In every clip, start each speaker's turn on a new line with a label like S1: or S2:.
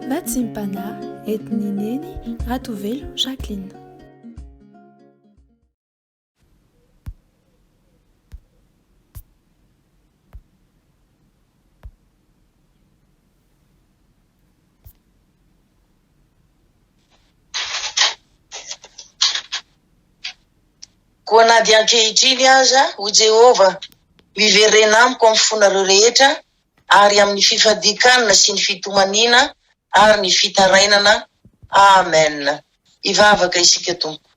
S1: Natsimpana, entin'i Neny Ratovelo Jacqueline.
S2: Koa na dia ankehitriny aza, hoy Jehovah, miverena amiko amin'ny fonareo rehetra, ary amin'ny fifadian-kanina sy ny fitomaniana ary ny fitarainana. Amen. Hivavaka isika Tompo.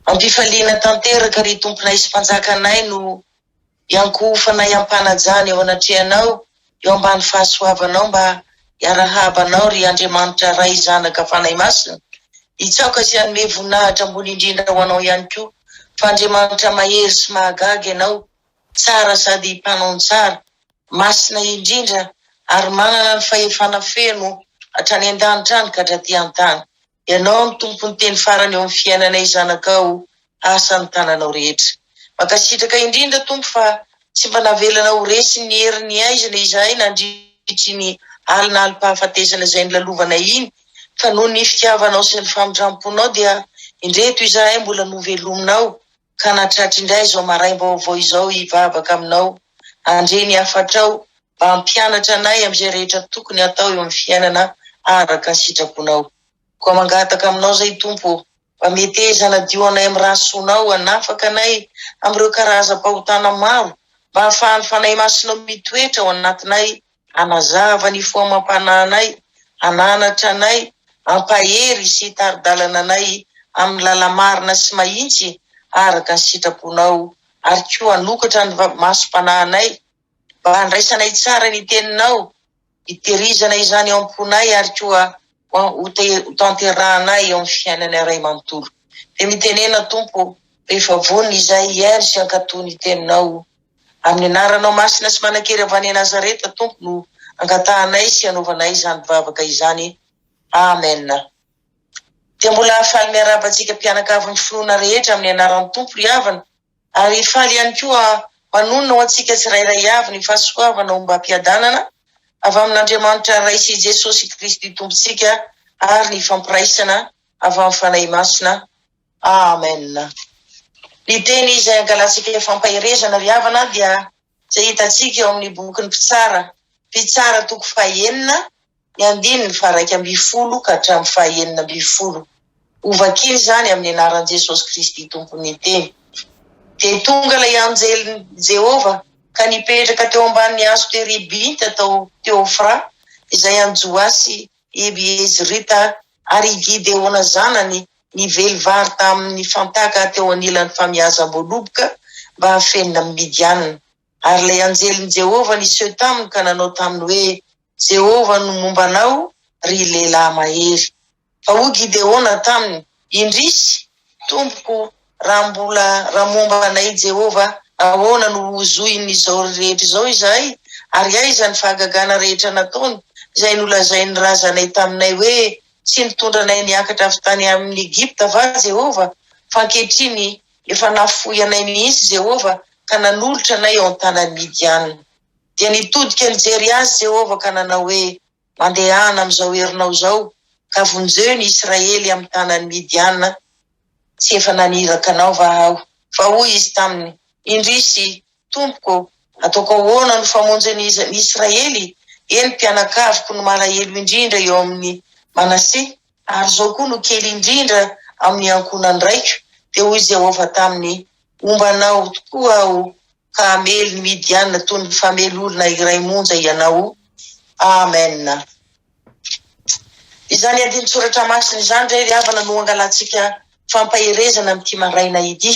S2: Ampifaliana tanteraka ry Tomponay sy Mpanjakanay no iankohofanay am-panajana eo anatrehanao eo ambany fahasoavanao mba hiarahaba anao ry Andriamanitra Ray Zanaka Fanahy Masina. Hitsaoka sy hanome voninahitra ambony indrindra ho anao ihany koa fa Andriamanitra mahery sy mahagaga ianao. tsara sady mpanao ny tsara, masina indrindra ary manana ny fahefana feno hatrany an-danitra any ka hatraty an-tany. Ianao no tompon'ny teny farany eo amin'ny fiainanay zanakao asa ny tananao rehetra. Mankasitraka indrindra Tompo fa tsy mba navelanao ho resy ny herin'ny haizina izahay nandritr'iny alina alim-pahafatesana izay nilalovanay iny fa noho ny fitiavanao sy ny famindram-ponao dia indreto izahay mbola novelominao Ka na tratry indray izao maraim-baovao izao hivavaka aminao, handre ny hafatrao, mba hampianatra anay amin'izay rehetra tokony hatao eo amin'ny fiainana araka ny sitraponao. Koa mangataka aminao izay, Tompo ô, mba meteza hanadio anay amin'ny rà soanao, hanafaka anay amin'ireo karazam-pahotana maro, mba hahafahan'ny Fanahy Masinao mitoetra ao anatinay Hanazava ny fo amam-panahinay, hananatra anay, hampahery sy hitari-dalana anay amin'ny lala-marina sy mahitsy araka ny sitraponao, ary koa hanokatra ny masom-panahinay mba handraisanay tsara ny teninao, hiterizana izany ao am-ponay ary koa hotanterahanay eo amin'ny fiainanay iray manontolo. Dia mitenena, Tompo, efa vonona izahy hihaino sy hankatò ny teninao, Amin'ny anaranao masina sy manan-kery avy any Nazareta Tompo no angatahanay sy anaovanay izany vavaka izany Amen Dia mbola faly miarahaba antsika mpianakavy ny finoana rehetra amin'ny anaran'ny Tompo ry havana ary faly ihany koa manonona ho antsika tsirairay avy ny fahasoavana ombam-piadanana avy amin'Andriamanitra Ray sy Jesosy Kristy Tompontsika ary ny fampiraisana avy amin'ny Fanahy Masina Amen! Ny teny izay hangalantsika ny fampaherezana ry havana dia izay hitantsika ao amin'ny bokin'ny Mpitsara, Mpitsara toko fahenina, ny andininy faharaika ambin'ny folo ka hatramin'ny fahenina ambin'ny folo. Hovakina izany amin'ny anaran'i Jesosy Kristy Tompon'ny teny. Dia tonga ilay anjelin'i Jehovah ka nipetraka teo ambanin'ny hazo teribinta tao Teofra, izay an'i Joasy Ebiezrita, ary i Gideona zanany ny velivary tamin' ny fantaka teo anilan' ny famiazam-boaloboka mba hafenina amin' i Midiana. Ary ilay anjelin' i Jehovah niseho taminy ka nanao taminy hoe, Jehovah no momba anao, ry lehilahy mahery. Fa hoy Gideona taminy, Indrisy, tompoko, raha mbola raha momba anay i Jehovah, ahoana no hozohin' izao rehetra izao izahay? Ary aiza ny fahagagana rehetra nataony, izay nolazain' ny razanay taminay hoe, Tsy nitondra anay niakatra avy tany amin'ny Egypta va Jehovah? Fa ankehitriny efa nafoy anay mihitsy Jehovah, ka nanolotra anay eo an-tanan'i Midiana. Dia nitodika nijery azy Jehovah ka nanao hoe, Mandehana amin'izao herinao izao, ka vonjeo ny Israely amin'ny tanan'i Midiana, tsy efa naniraka anao va aho? Fa hoy izy taminy, Indrisy, tompoko, ataoko ahoana no famonjy ny Israely? Eny, mpianakaviko no malahelo indrindra eo amin' i Manase, ary izao koa no kely indrindra amin' ny ankohonan-draiko. Dia hoy Jehovah taminy, Homba anao tokoa aho, ka hamely ny Midianina toy ny famely olona iray monja ianao. Amena. Izany andinin-tsoratra masina izany indray ry havana no hangalantsika fampaherezana amin'ity maraina ity.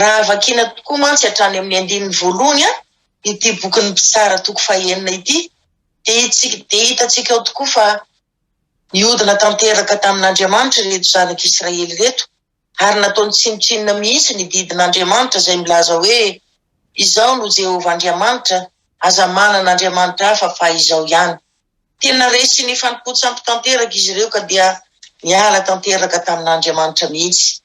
S2: Raha vakiana tokoa mantsy hatrany amin'ny andininy voalohany ity bokin'ny Mpitsara toko fahenina ity dia dia hitantsika ao tokoa fa nihodina tanteraka tamin'Andriamanitra ireto zanak'Israely ireto ary nataony tsinontsinona mihitsy ny didin'Andriamanitra izay milaza hoe, Izaho no Jehovah Andriamanitra, aza manana andriamanitra hafa fa Izaho ihany. Tena resy ny fanompoan-tsampy tanteraka izy ireo ka dia niala tanteraka tamin'Andriamanitra mihitsy.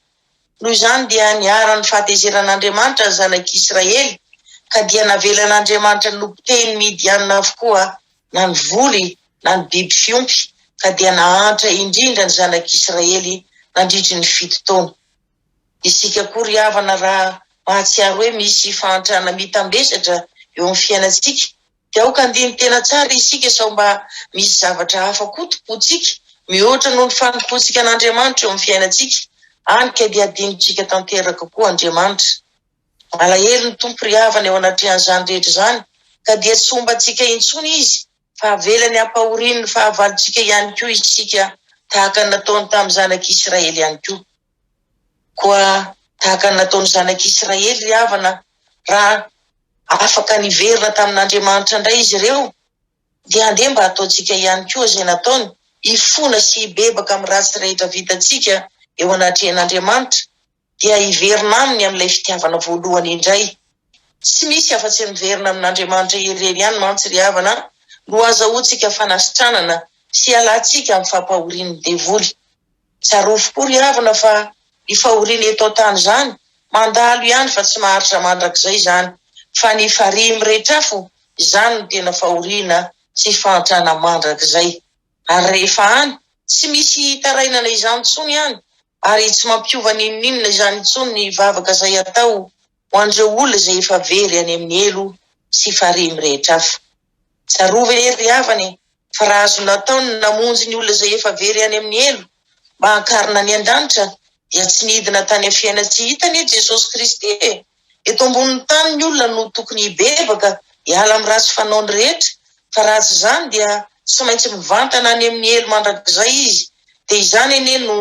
S2: Noho izany dia niharan'ny fahatezeran'Andriamanitra ny zanak'i Israely ka dia navelan'Andriamanitra nopotehiny Midianina avokoa na ny voly na ny biby fiompy, ka dia nahantra indrindra ny zanak'Israely nandritry ny fito taona. Isika koa ry havana raha mahatsiaro hoe misy fahantrana mitambesatra eo amin'ny fiainantsika dia aoka handiny tena tsara isika sao mba misy zavatra hafa koa tompointsika mihoatra noho ny fanompoantsika an'Andriamanitra eo amin'ny fiainantsika any ka dia hadinontsika tanteraka koa Andriamanitra. Malahelo ny Tompo ry havana eo anatrehan'izany rehetra izany ka dia tsy hombantsika intsony Izy. fa avelany hampahoriany ny fahavalontsika ihany koa isika, tahaka ny nataony tamin'ny zanak'i Israely ihany koa. Koa tahaka ny nataon'ny zanak'i Israely ry havana, raha afaka niverina tamin'Andriamanitra indray izy ireo, dia andeha mba hataontsika ihany koa izay nataony, hifona sy hibebaka amin'ny ratsy rehetra vitantsika eo anatrehan'Andriamanitra, dia hiverina aminy amin'ilay fitiavana voalohany indray. Tsy misy afa-tsy ny miverina amin'Andriamanitra irery ihany mantsy ry havana no hahazahoantsika fanasitranana sy hialantsika amin'ny fampahorian'ny devoly. Tsarovy koa ry havana fa ny fahoriana eto an-tany izany mandalo ihany fa tsy maharitra mandrakizay izany, fa ny farihy miretrafo izany no tena fahoriana sy fahantrana mandrakizay. Ary rehefa any, tsy misy hitarainana izany intsony any, ary tsy mampiova n'inon'inona izany intsony ny vavaka izay atao ho an'ireo olona izay efa very any amin'ny helo sy farihy mirehitra hafa. Tsarovy anie ry havana e, fa raha azo natao ny namonjy ny olona izay efa very any amin'ny helo mba hankarina any an-danitra, dia tsy nidina tany amin'ny fiaina-tsy hita anie Jesosy Kristy e! Eto ambonin'ny tany ny olona no tokony hibebaka hiala amin'ny ratsy fanaony rehetra fa raha tsy izany dia tsy maintsy mivantana any amin'ny helo mandrakizay izy dia izany anie no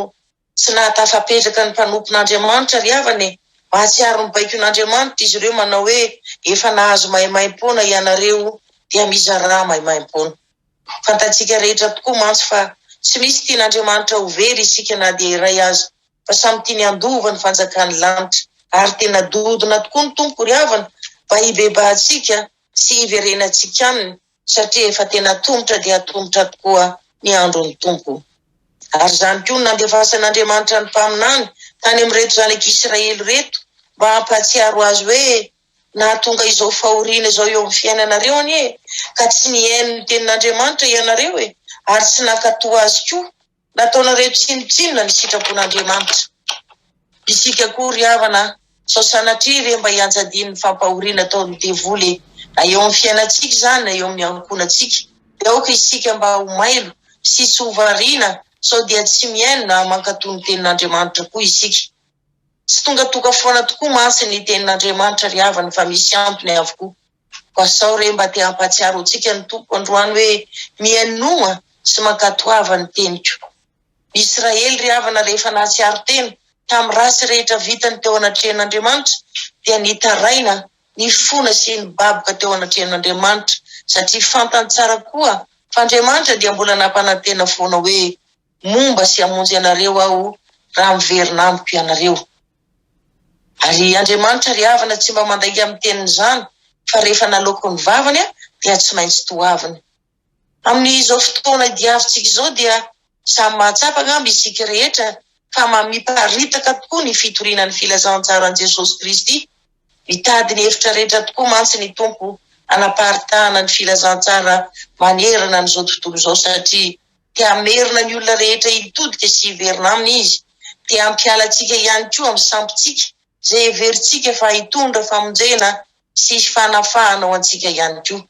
S2: tsy nahatafapetraka ny mpanompon'Andriamanitra ry havana e! mahatsiaro ny baikon'Andriamanitra izy ireo manao hoe efa nahazo maimaimpoana ianareo dia mizarà maimaimpoana. Fantatsika rehetra tokoa mantsy fa tsy misy tian'Andriamanitra ho very isika na dia iray aza, fa samy tiany handova ny fanjakan'ny lanitra, ary tena dodona tokoa ny Tompo ry havana mba hibebahantsika sy hiverenantsika Aminy, satria efa tena atomotra dia atomotra tokoa ny andron'ny Tompo. Ary izany koa no nandefasan'Andriamanitra ny mpaminany tany amin'ireto zanak'Israely ireto mba hampahatsiaro Azy hoe, Nahatonga izao fahoriana izao eo amin'ny fiainanareo anie e! Ka tsy nihaino ny tenin'Andriamanitra ianareo e! Ary tsy nankatò Azy koa. Nataonareo tsinontsinona ny sitrapon'Andriamanitra. Isika koa ry havana a! Sao sanatria ve mba hianjadian'ny fampahoriana ataon'ny devoly e! Na eo amin'ny fiainantsika izany na eo amin'ny ankohonantsika. Dia aoka isika mba ho mailo sy tsy ho variana sao dia tsy mihaino na mankatò ny tenin'Andriamanitra koa isika. Tsy tonga toka foana tokoa mantsy ny tenin'Andriamanitra ry havana fa misy antony avokoa. Koa sao re mba te hampahatsiaro antsika ny Tompo androany hoe mihainoa sy mankatoava ny teniko. Ny Israely ry havana rehefa nahatsiaro tena tamin'ny ratsy rehetra vitany teo anatrehan'Andriamanitra dia nitaraina, nifona sy nibaboka teo anatrehan'Andriamanitra satria fantany tsara koa fa Andriamanitra dia mbola nampanantena foana hoe Momba sy hamonjy anareo Aho raha miverina amiko ianareo. Ary Andriamanitra ry havana tsy mba mandainga amin'ny tenin'izany, fa rehefa naloako ny vavany dia tsy maintsy toaviny. Amin'izao fotoana idiavintsika izao dia samy mahatsapa angamba isika rehetra fa mamiparitaka tokoa ny fitoriana ny filazantsaran'i Jesosy Kristy. Mitady ny hevitra rehetra tokoa mantsy ny Tompo hanaparitahana ny filazantsara manerana an'izao tontolo izao satria dia hamerina ny olona rehetra hitodika sy hiverina aminy izy, dia hampiala antsika ihany koa amin'ny sampintsika, izay heverintsika fa hitondra famonjena sy fanafahana ho antsika ihany koa.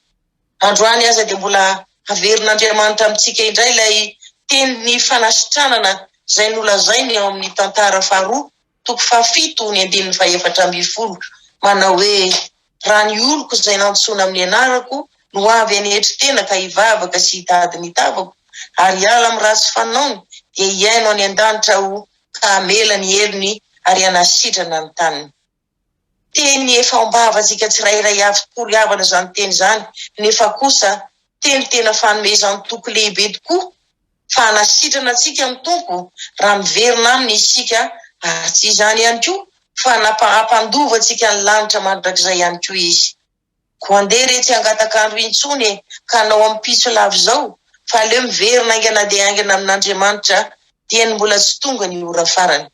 S2: Androany aza dia mbola haverin'Andriamanitra amintsika indray ilay tenin'ny fanasitranana izay nolazainy ao amin'ny tantara faharoa toko fahafito ny andininy fahefatra ambin'ny folo manao hoe, Raha ny oloko izay nantsoina amin'ny anarako no avy any etri-tena ka hivavaka sy hitady ny tavako ary hiala amin'ny ratsy fanaony, dia hihaino any an-danitra Aho ka hamela ny helony ary hanasitrana ny taniny. Teny efa ao am-bahavantsika tsirairay avy tokoa ry havana izany teny izany, nefa kosa teny tena fanomezan toky lehibe tokoa fa hanasitrana antsika ny Tompo raha miverina Aminy isika ary tsy izany ihany koa fa nampa hampandova antsika ny lanitra mandrakizay ihany koa Izy. Koa andeha re tsy hangatak'andro intsony e ka hanao ampitso lava izao fa aleo miverina haingana dia haingana amin'Andriamanitra dieny mbola tsy tonga ny ora farany.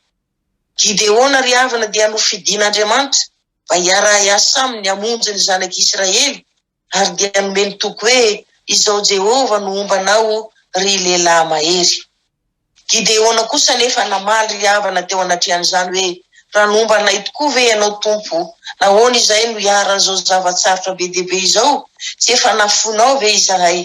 S2: Gideona ry havana dia nofidin'Andriamanitra mba hiara-hiasa aminy hamonjy ny zanak'i Israely ary dia nomeny toky hoe, Izao Jehovah no homba anao, ry lehilahy mahery. Gideona kosa anefa namaly ry havana teo anatrehan'izany hoe, Raha nomba anay tokoa ve ianao, Tompo, nahoana izay no iharan'izao zava-tsarotra be dia be izao? Tsy efa nafoinao ve izahay?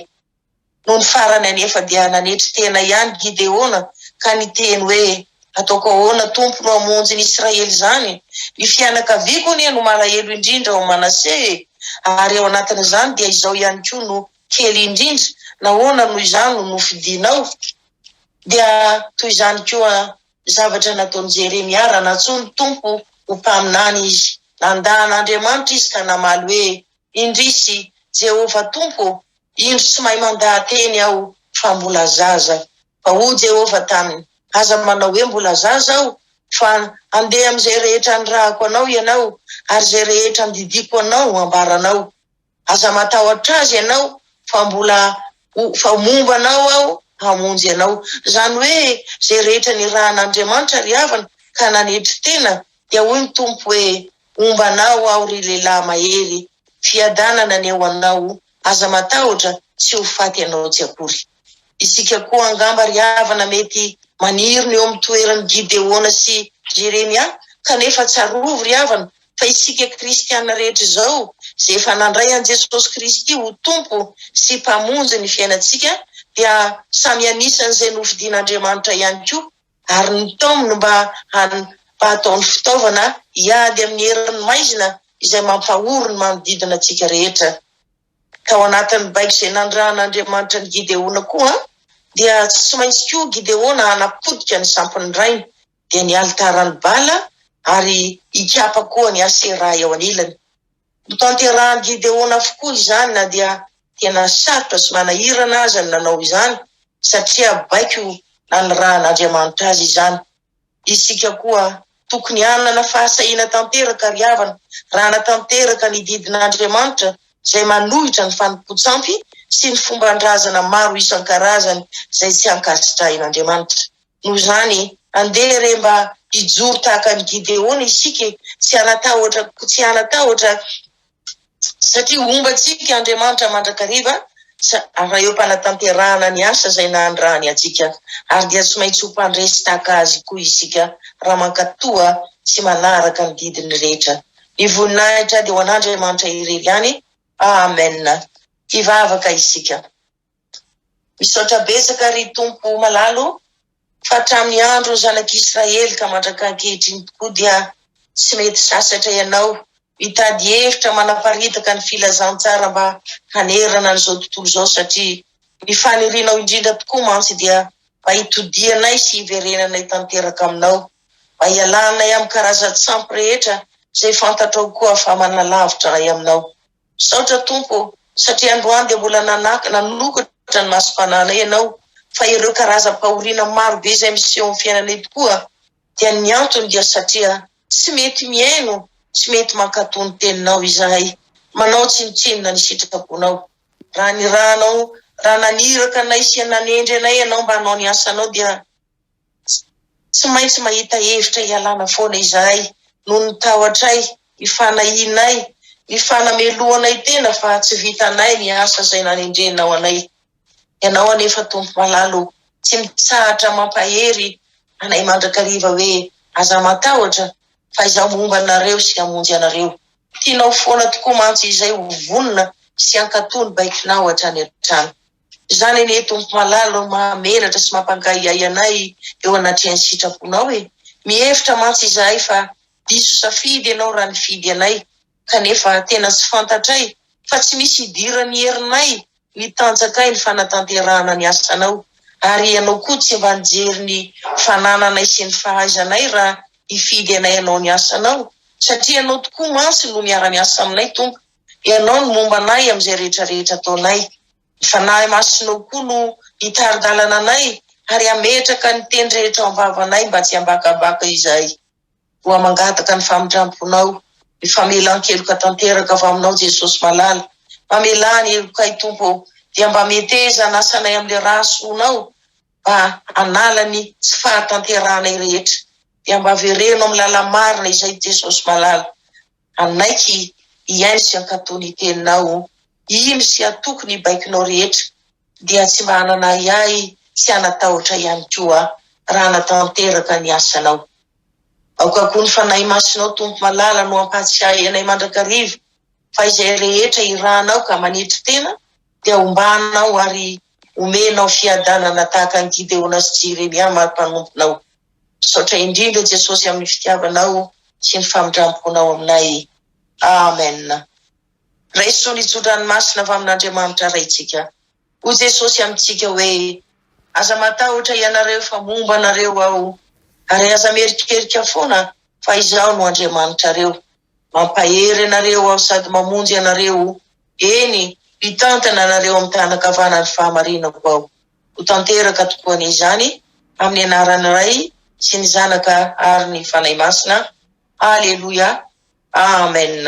S2: Nony farany anefa dia nanetry tena ihany Gideona ka niteny hoe, Hataoko ahoana, Tompo, no hamonjy ny Israely izany? Ny fianakaviako anie no malahelo indrindra ao Manase e! Ary ao anatin'izany dia izao ihany koa no kely indrindra, nahoana no izaho no nofidinao? Dia toy izany koa ny zavatra nataon'i Jeremia raha nantsoin'ny Tompo ho mpaminany izy. Nandà an'Andriamanitra izy ka namaly hoe, Indrisy, Jehovah Tompo ô! Indro tsy mahay mandaha-teny aho, fa mbola zaza. Fa hoy Jehovah taminy, Aza manao hoe, 'Mbola zaza aho', fa andeha amin'izay rehetra anirahako anao ianao, ary izay rehetra andidiako anao ho ambaranao. Aza matahotra azy ianao, fa mbola ho, fa momba anao aho hamonjy anao. Izany hoe, izay rehetra nirahan'Andriamanitra ry havana, ka nanetry tena, dia hoy ny Tompo hoe, Homba anao aho ry lehilahy mahery, fiadanana ny eo anao, aza matahotra, tsy ho faty ianao tsy akory. Isika koa angamba ry havana mety maniry ny eo amin'ny toeran'i Gideona sy Jeremia, kanefa tsarovy ry havana fa isika kristiana rehetra izao izay efa nandray an'i Jesosy Kristy ho Tompo sy Mpamonjy ny fiainantsika dia samy anisan'izay nofidin'Andriamanitra ihany koa. ary ny tom no mba hany mba hataony fitaovana hiady amin'ny herin'ny maizina izay mampahory ny manodidina antsika rehetra. Tao anatin'ny baiko izay nanirahan'Andriamanitra an'i Gideona koa dia tsy maintsy koa Gideona hanapotika ny sampin'ny rainy, dia ny alitaran'i Bala ary hikapa koa an'i Asera eo anilany. Notanterahan'i Gideona avokoa izany na dia tena sarotra sy manahirana aza ny nanao izany, satria baiko nanirahan'Andriamanitra azy izany. Isika koa tokony hanana fahasahiana tanteraka ry havana, raha hanatanteraka ny didin'Andriamanitra izay manohitra ny fanompoan-tsampy sy ny fomban-drazana maro isan-karazany izay tsy ankasitrahin'Andriamanitra. Noho izany, andeha re mba hijoro tahaka an'i Gideona isika e! Tsy hanatahotra, tsy hanatahotra satria homba antsika Andriamanitra mandrakariva ary eo am-panatanterahana ny asa izay nanirahany antsika ary dia tsy maintsy ho mpandresy tahaka Azy koa isika raha mankatoa sy manaraka ny didiny rehetra. Ny voninahitra dia ho an'Andriamanitra irery ihany. Amen! Hivavaka isika. Misaotra betsaka ry Tompo malala o! Fa hatramin'ny andron'ny zanak'i Israely ka mandraka ankehitriny tokoa dia tsy mety sasatra ianao mitady hevitra manaparitaka ny filazantsara mba hanerana an'izao tontolo izao satria ny fanirianao indrindra tokoa mantsy dia mba hitodianay sy hiverenanay tanteraka aminao mba hialanay amin'ny karazan-tsampy rehetra izay fantatrao koa fa manalavitra anay aminao. Misaotra Tompo ô, satria androany dia mbola nanaka, nanokatra ny masom-pananay Ianao, fa ireo karazam-pahoriana maro be izay miseho amin'ny fiainanay tokoa dia ny antony dia satria tsy mety mihaino, tsy mety mankatò ny Teninao izahay, manao tsinontsinona ny sitraponao. Raha nirahanao, raha naniraka anay sy nanendry anay Ianao mba hanao ny asanao dia. Tsy maintsy mahita hevitra hialana foana izahay noho ny tahotray, ny fanahianay, ny fanamelohanay tena fa tsy vitanay ny asa izay nanendrenao anay. Ianao anefa, Tompo malala ô, tsy mitsahatra mampahery anay mandrakariva hoe, Aza matahotra, fa Izaho momba anareo sy hamonjy anareo. Tianao foana tokoa mantsy izay ho vonona sy hankatò ny baikonao hatrany hatrany. Izany anie Tompo malala ô, mahamenatra sy mampankahiahy anay eo anatrehan'ny sitraponao e! Mihevitra mantsy izahay fa diso safidy ianao raha nifidy anay kanefa tena tsy fantatray fa tsy misy idiran'ny herinay ny tanjakay ny fanatanterahana ny asanao ary ianao koa tsy mba nijery ny fanananay sy ny fahaizanay raha hifidy anay hanao ny asanao satria ianao tokoa mantsy no miara-miasa aminay Tompo Ianao no momba anay amin'izay rehetra rehetra ataonay. Ny Fanahy Masinao koa no hitari-dalana anay ary hametraka ny teny rehetra ao am-bavanay mba tsy hambakabaka izahay. Koa mangataka ny famindram-ponao, ny famelan-keloka tanteraka avy aminao Jesosy malala. Mamelà ny helokay Tompo ô, dia mba meteza ny asanay amin'ilay rà soanao mba hanala ny tsy fahatanterahanay rehetra. Dia mba avereno amin'ny làla marina izay Jesosy malala. Hanaiky hihaino sy hankatò ny Teninao, oh. Hino sy hatoky ny baikonao rehetra, dia tsy mba hanana ahiahy sy hanatahotra ihany koa aho, raha hanatanteraka ny asanao. Aoka koa ny Fanahy Masinao, Tompo malala, no hampahatsiahy anay mandrakariva fa izay rehetra irahanao ka manetry tena, dia hombanao ary homenao fiadanana tahaka an'i Gideona sy Jeremia mari-panomponao. Misaotra indrindra Jesosy amin'ny fitiavanao sy ny famindramponao aminay. Amen. Raiso ny tso-dranomasina avy amin'Andriamanitra Raintsika. Hoy Jesosy amintsika hoe, Aza matahotra ianareo fa momba anareo aho, ary aza mierikerika foana fa izaho no Andriamanitrareo. Mampahery anareo aho sady mamonjy anareo, eny, hitantana anareo amin'ny tànan-kavanan'ny fahamarinako aho. ho tanteraka tokoa anie izany amin'ny anaran'ny Ray sy ny Zanaka ary ny Fanahy Masina. Haleloia. Amen.